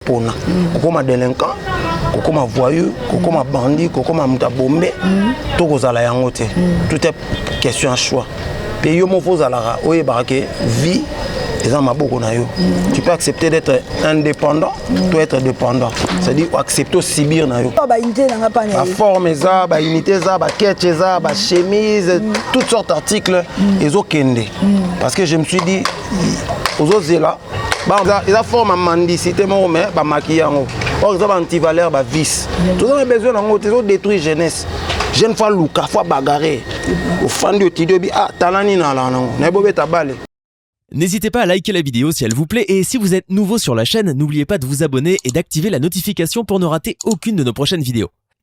pona kokoma delinquant kokoma voyou kokoma bandit kokoma moto ya bombe to kozala yango te tout est question ya choix mpe yo moko ozalaka oyebaka ke vie eza maboko na yo tu peux accepter d'être indépendant to être dépendant c'est-à-dire accepter osibir na yo baforme eza baunité eza baketch eza bachemise toutes sortes articles ezokende parce que je me suis dit ozozela eza forme ya mandicité moko mais bamaki yango or eza baantivaleur bavice toza na besoin nango te ezodétruire jeunesse jeune fois luka fois bagare ofandi otidi obi ah tala nini alaa nango naye bobeta bale N'hésitez pas à liker la vidéo si elle vous plaît et si vous êtes nouveau sur la chaîne, n'oubliez pas de vous abonner et d'activer la notification pour ne rater aucune de nos prochaines vidéos.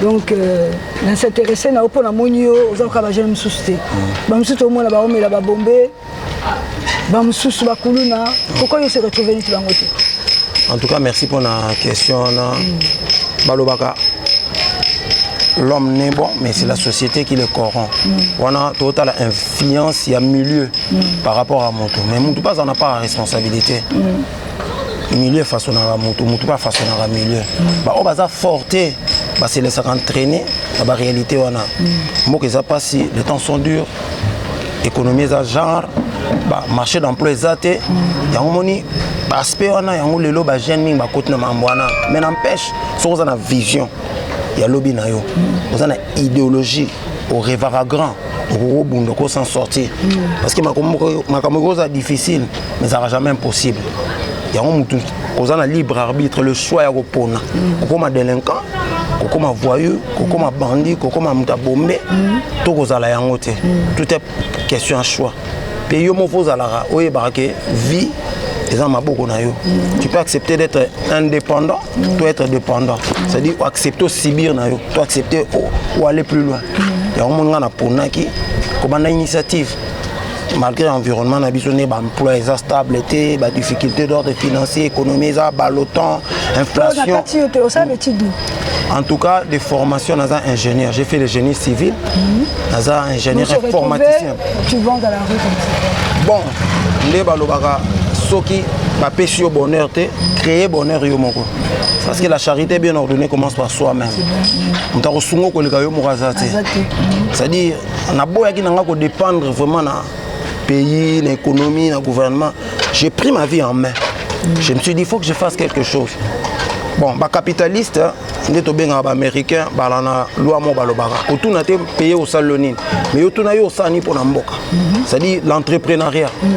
donc euh, na s'interesse na yo mpo namoni yo oza koka bajeune mosusu te mm. bamosusu tomona baomela babombe bamosusu bakuluna pourkoi yo se retrouve neti bango te en tout cas merci mpo na question wana mm. balobaka l'homme n'est bon mais c'est la société qui le corrompt mm. wana totala influence ya milieu par rapport à moto mais moto mpe aza na part ya responsabilité milieu efasonaka motu motu mpe afasonaka milieu mm. baoyo baza fort te baselesaka entraîne na baréalité wana mm. mboka eza mpasi le temps sont dur économie eza genre bamarché d'emploi eza te mm. yango moni baaspect wana yango lelo bajeune mingi bakoti na mambo wana mais n'empêche soki oza na vision ya lobi na yo oza na idéologie orevaka grand okokobunda ko s'en sortir parce que makambo ekoza difficile ezalaka jamais impossible yango motu oza na libre arbitre le choix ya kopona mm. okoma délinquant kokoma voyou kokoma mm. bandi kokoma moto abombe mm. to kozala yango te tout est question ya choix mpe yo moko ozalaka oyebaka ke vie eza maboko na yo tu peux accepter d'être indépendant to être dépendant c'est à dire accepter osibir na yo to accepter oaller plus loin yango moni ngai naponaki kobanda initiative malgré environnement na biso nde baemploi eza stable te badifficulté d'ordre financier économie eza balotan inflation en tout cas de formation naza ingénieur j'ai fait le génie civil mhm. naza ingénieur informaticien bon nde balobaka soki bapesi yo bonheur te créer bonheur yo moko parce que la charité bien ordonnée commence par soi-même moto akosunga okoleka yo moko aza te c'est-à-dire naboyaki na nga ko dépendre vraiment na pays na économie na gouvernement j'ai pris ma vie en main mm. je me suis dit il faut que je fasse quelque chose bon bacapitaliste nde tobengaka baaméricain bala na lwa moko balobaka otuna te paye osali yo nini mais otuna yo osala nini mpo na mboka mhm. c'est-à-dire l'entrepreneuriat mhm.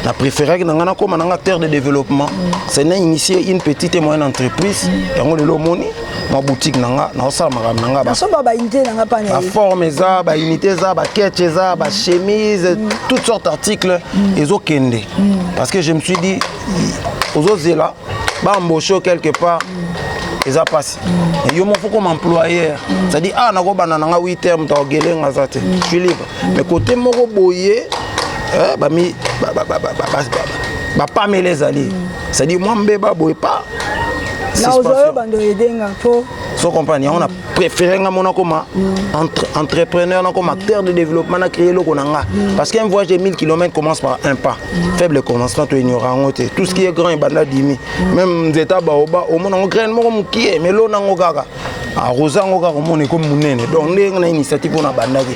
na préféraki na ngai nakóma na nga acteur de développement mhm. c'est na initie une petite et moyenne entreprise yango lelo omoni na boutique na nga naosala makambo na nga nasomba baunité na nga pana baforme eza baunité eza baketch eza bachemise mm. toutes sortes articles mm. ezokende mm. parce que je me suis dit ozozela baembauche quelque part eza mpasi mm. yo moko koma employeur mm. c'est-à-dire ah nakobanda na nga 8 heure moto akogele nga aza te mm. je suis libre mais côté moko boye eh, bami bapamela ezali c'est à dire mwa mbeba boye pa naozoyo bando ede nga mpo so comprendre yango na préféré nga mona koma entre, entrepreneur na koma acteur de développement na créer eloko na nga parce qu'un voyage de 1000 km commence par un pas faible commencement to ignore yango te tout ce qui est grand ebanda dimi même nzeta baoba omona yango graine moko mokie mais lona yango kaka akoza yango kaka komona ekomi monene donc ndenge na initiative mpona abandaki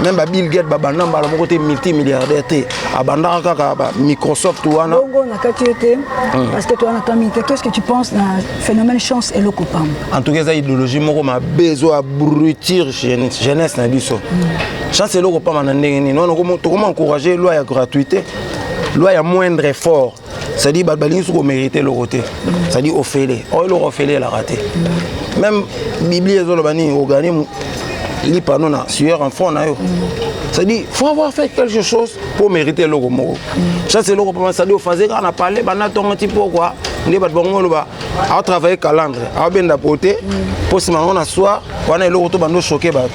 meme ba bill gate babanda mbala moko te multimilliardaire te abandaka kaka ba microsoft wana bongo na kati yo te hmm. parce que toi na kami te qu'est ce que tu penses na phénomène chance eloko pamba en tout cas eza idéologie moko mabe ezo abrutir jeunesse na biso hmm. chance eloko pamba na ndenge nini tokoma encourage loi ya gratuité loi ya moindre effort c'est-à-dire bato balingi soki omérite eloko te c'est-à-dire ofele oyo eloko ofele elaka te même biblie ezoloba nini organisme lipa no na sueur en front na yo c'est-à-dire faut avoir fait quelque chose mpo mérite eloko moko chasse eloko mpama c'est-à-dire ofase kaka na palais banda ntongo ti mpokwa nde bato bango oloba awa travaille calandre awa benda pote mpo nsima yango na soir wana eloko to bando choke bato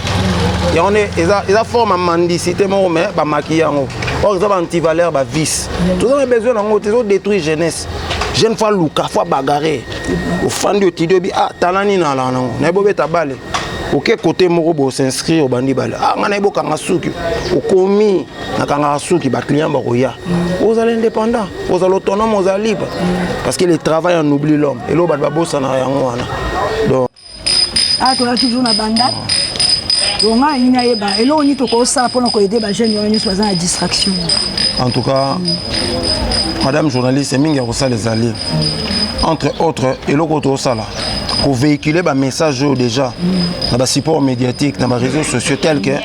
yango nde eza forme ya mandicité moko me bamaki yango or eza baantivaleur bavice toza na besoin na yango te ezodétruire jeunesse jeune fois luka fois bagare ofandi otidi obi ah tala nini alaa nango naye bobeta bale oke kote moko bosinscrire obandi bale ah ngai naye bokanga suki okomi nakangaka suki baclient bakoya mm. ozala indépendant ozala autonome ozala libre mm. parce que le travail en oublie l'homme eloo bato babosanaka yango wana donc ah, toza toujours na banda donga ayini ayeba eloko nini tokosala mpona koyede bajeune wana nyonso baza na distraction en tout cas mm. madame journaliste mingi ya kosala ezali entre autres eloko tokosala kovéhicule bamessage oyo déjà na basupport médiatique na baréseau sociaux tel que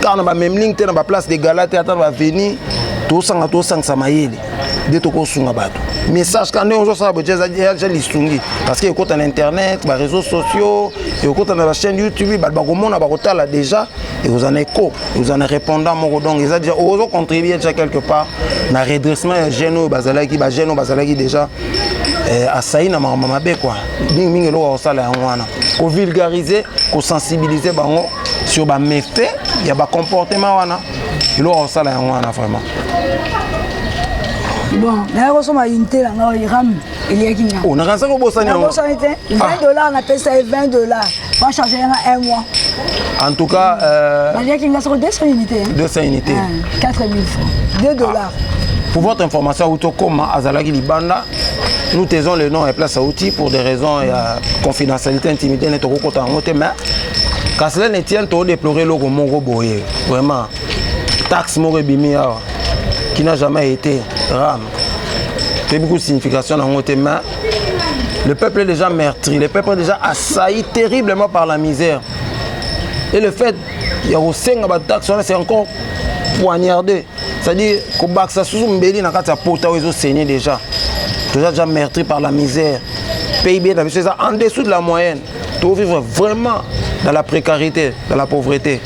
kaka na bamemling te na baplace de gala te ata na baveni tosanga tosangisa mayele nde tokosunga bato message ka ndenge ozosala boye aja lisungi parce que ekota na internet bareseau sociaux ekota na bachaîne youtube bato bakomona bakotala déjà ekozala na éco ekozala na répondant moko donc eza déjà ozocontribue déjà quelque part na redressement ya jeune oyo bazalaki bajeune oyo bazalaki déjà eh, asai na makambo mabe kua mingimingi eloko akosala yango wana kovulgarize kosensibilize bango sur ba méfaits ya ba comportement wana eloko akosala yango wana vraiment bon naye kosoma unité na ngai iram eliyaki nga oh, nakanisa kobosani yango nabosani te 20 ah. dollars napesa ye 20 dollars bacharge yanga un mois en tout cas euh, naliyaki nga soko 200 unité 200 unité 4000 francs 2 dollars ah. Pour votre information, Autokoma Azalagi Libanda, nous taisons le nom et place à outils pour des raisons de confidentialité, intimité, mais Kaselene Etienne to déplorer loko moko boye vraiment taxe moko ebimi awa qui n'a jamais été ram toyebi ku signification nango te mais le peuple est déjà meurtri le peuple est déjà assailli terriblement par la misère et le fait ya kosenga bataxe wana c'est encore poignardé c'est-à-dire kobakisa susu mbeli na kati ya pota oyo ezosenye déjà toza déjà meurtri par la misère pib na biso eza en dessous de la moyenne To vivre vraiment dans la précarité, dans la pauvreté.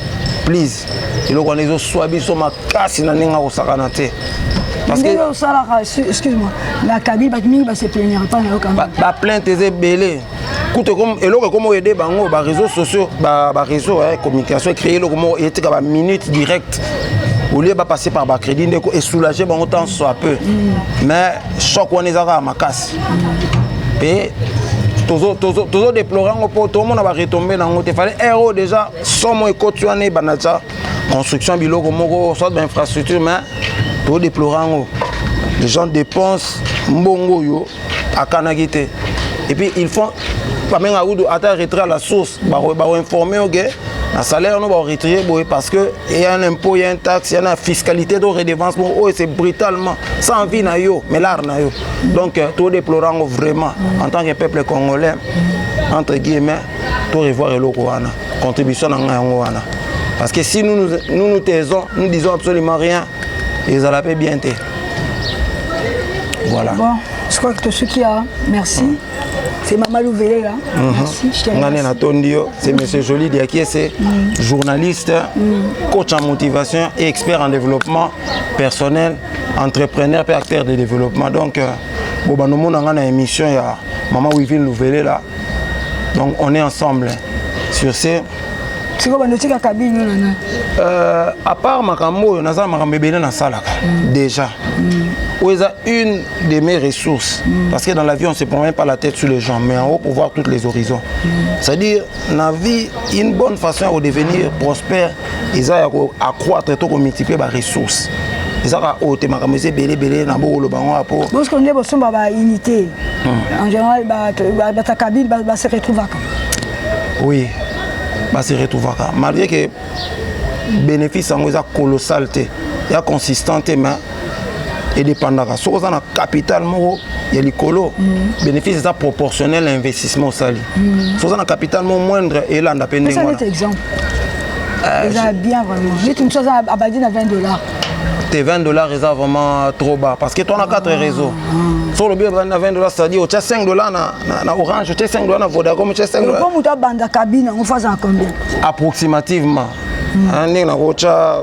Please, eloko wana ezoswa biso makasi na ndenge akosakana te ndenge osalaka excuse-moi na kabi bato mingi baseplainir epai na yo kama baplainte eza ebele kutu eloko ekomi oyede bango bareseau sociaux bareseau ya communication ecree eloko moko etika baminute directe olie bapasse par bacrédit ndeko esoulage bango tant soit peu mm. mais choc wana eza kaka makasi mpe tozodeplore yango mpo tomona baretombe na yango te fale aire oyo déjà somo ekoti wana ebanda tya construction biloko moko soit bainfrastructure mais tozodeplore yango les gens dépensent mbongo oyo akanaki te et puis ils font bamenga kudu ata retrait à la source bakoinforme yo ke na salaire no bakoretire boye parce que eya un impôt ya un taxe ya na fiscalité to redevance moko oyo c'est brutalement sans vie na yo mais l'art na yo donc euh, to déplore yango vraiment en tant que peuple congolais entre guillemets to revoir eloko wana contribution na ngai yango wana parce que si nous nous, nous, nous taisons nous disons absolument rien ezala mpe bien te voilà bon je crois que tosuki ya merci mm. c'est mama louvelela mm -hmm. ngane natondi yo c'est mm. monsieur joli diakiese mm. journaliste mm. coach en motivation et expert en développement personnel entrepreneur mpe acteur de développement donc euh, bobanda omona ngai na émission ya mama wivine louvelela donc on est ensemble sur ce sikoyo bando otikaka bino na nani euh, à part makambo oyo naza na makambo ebele nasalaka mm. déjà mm. oyo eza une de mes ressources mm. parce que dans la vie on se promène pas la tête sur les gens mais en haut pour voir toutes les horizons c'est à dire na vie une bonne façon ya kodevenir prospère eza ya ko accroître to ko multiplier ba ressources ezaka oyo te makambo eza ebele ebele na bokoloba yango ya po bosiko nde bosomba ba unité hmm. en général bata kabine ba se retrouvaka oui ba se retrouvaka malgré que bénéfice yango eza colossal te ya consistant te mais edependaka soki oza na capital moko ya likolo mm. bénéfice eza proportionnel na investissement osali mm. soki oza na capital moko moindre elanda mpe ndenge wana euh, eza bien vraiment neti mosusu aza abandi na 20 dollars te 20 dollars eza vraiment trop bas parce que tona 4 ah. réseau so olobi obandi na 20 dollars c'est-à-dire otya 5 dollars na, na, na orange otya 5 dollars na vodacom otya 5 dollars moto abanda kabine yango fazala combien approximativement mm. ndenge nakotya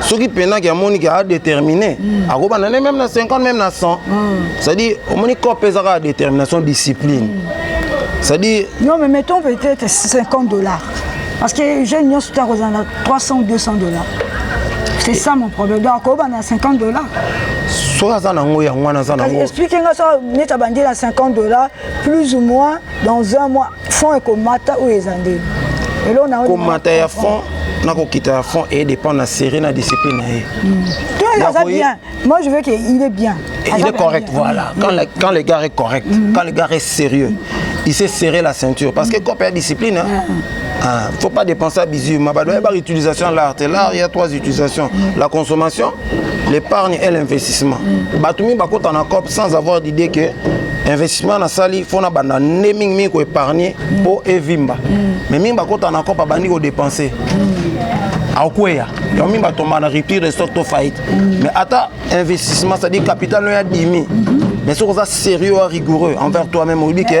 soki penaki amoni ke adetermine mm. akobanda ne meme na 50 meme na 100 mm. cestadire omoni cope eza kaka détermination discipline mm. cestadire non mais mettons peut-être 50 dollars parce que jeune nyonso te akozala na 300 ou 200 dollars c'est ça mon problème donc akobanda na 50 dollars soki aza nango yango wana aza nango explike nga soki neti abandi na 50 dollars plus ou moins dans un mois fond ekomata oyo eza nde komata ya fond na kokita ya fond et dépend na série na discipline na ye hmm. to aza bien moi je veux que il est bien il est correct voilà quand le, quand le gars est correct hmm. quand le gars est sérieux il s'est serré la ceinture parce que cope ya discipline hein, ah, faut pas dépenser à bisous ma bado ya ba utilisation l'art l'art il y a trois utilisations la consommation l'épargne et l'investissement mm. bato mingi bakota na cop sans avoir d'idée que investissement nasali fo nabanda nde mingi mingi koépargne mpo mm. evimba mm. mais mingi bakota na cop abandi kodepense mm. akweya yango mingi batomba na rupture de stock to faillite mm. mais ata investissement c'est-à-dire capital no ya dimi mm -hmm. mais soki oza sérieux wa rigoureux envers toi-même oyebi ke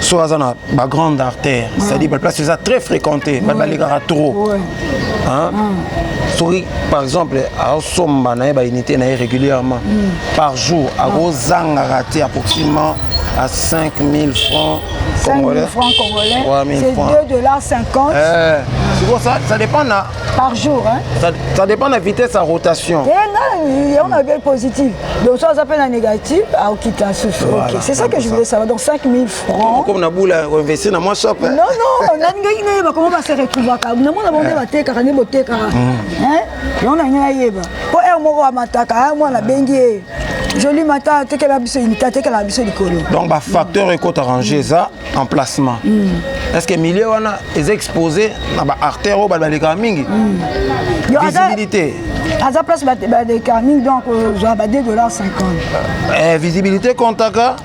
soit aza na ba grande artère mm. c'est à dire ba place eza très fréquenté ba balekaka trop hein mm. soki par exemple asomba na ye ba unité na ye régulièrement mm. par jour akozangaka te approximativement à 5000 francs 5000 francs congolais c'est 2 dollars 50 eh, ça, ça dépend na par jour hein? ça, ça dépend na vitesse ya rotation eh, on avait positif donc soit aza mpe na négatif aokita susu ok c'est ça que je voulais savoir donc 5000 francs comme na bula investi na mwa shop non non nalingaki nayeba comment base retrouvaka namona bango nde batekaka nde botekaka yango nalingi nayeba mpo heure moko amataka mwana abengi ye joli mata atekela biso inite atekela biso likolo donc bafacteur ekota range eza emplacement mm. est ce que milieu wana eza exposé na ba artère oyo bato balekaka mingi mm. visibilité aza place balekaka mingi donc ozwa ba 2 dollar 50 eh, visibilité comptaka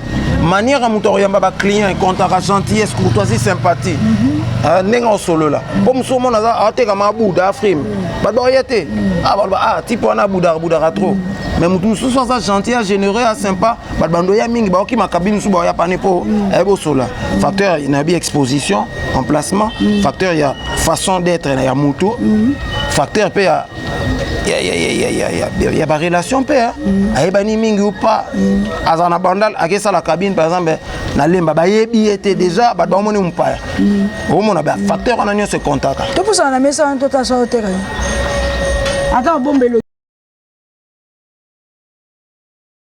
manière ya moto akoyamba baclient ekontaka gentillesse courtoisie sympathie mhm. ah, ndenge osolola mpo mhm. mosusu omona aza atekama abuda afrime mhm. bato bakoya te ah, baloba ah, type wana abudaka budaka trop mais moto mosusu aza gentil agénéreux asympa bato bando ya mingi baoki makabini mosusu baoya pane mpo mm. ayebi osola mm. facteur na bi exposition emplacement mm. facteur ya façon d'être ya moto facteur mpe ya ya barelation mpe ayebani mingi ou pas azala na bandal akesala cabine par exemple na lemba bayebi ye te déjà bato bamoni mopaya omona bafacteur wana nyonso ekontaka topusana na mesa wana totasa oteka ata obombelo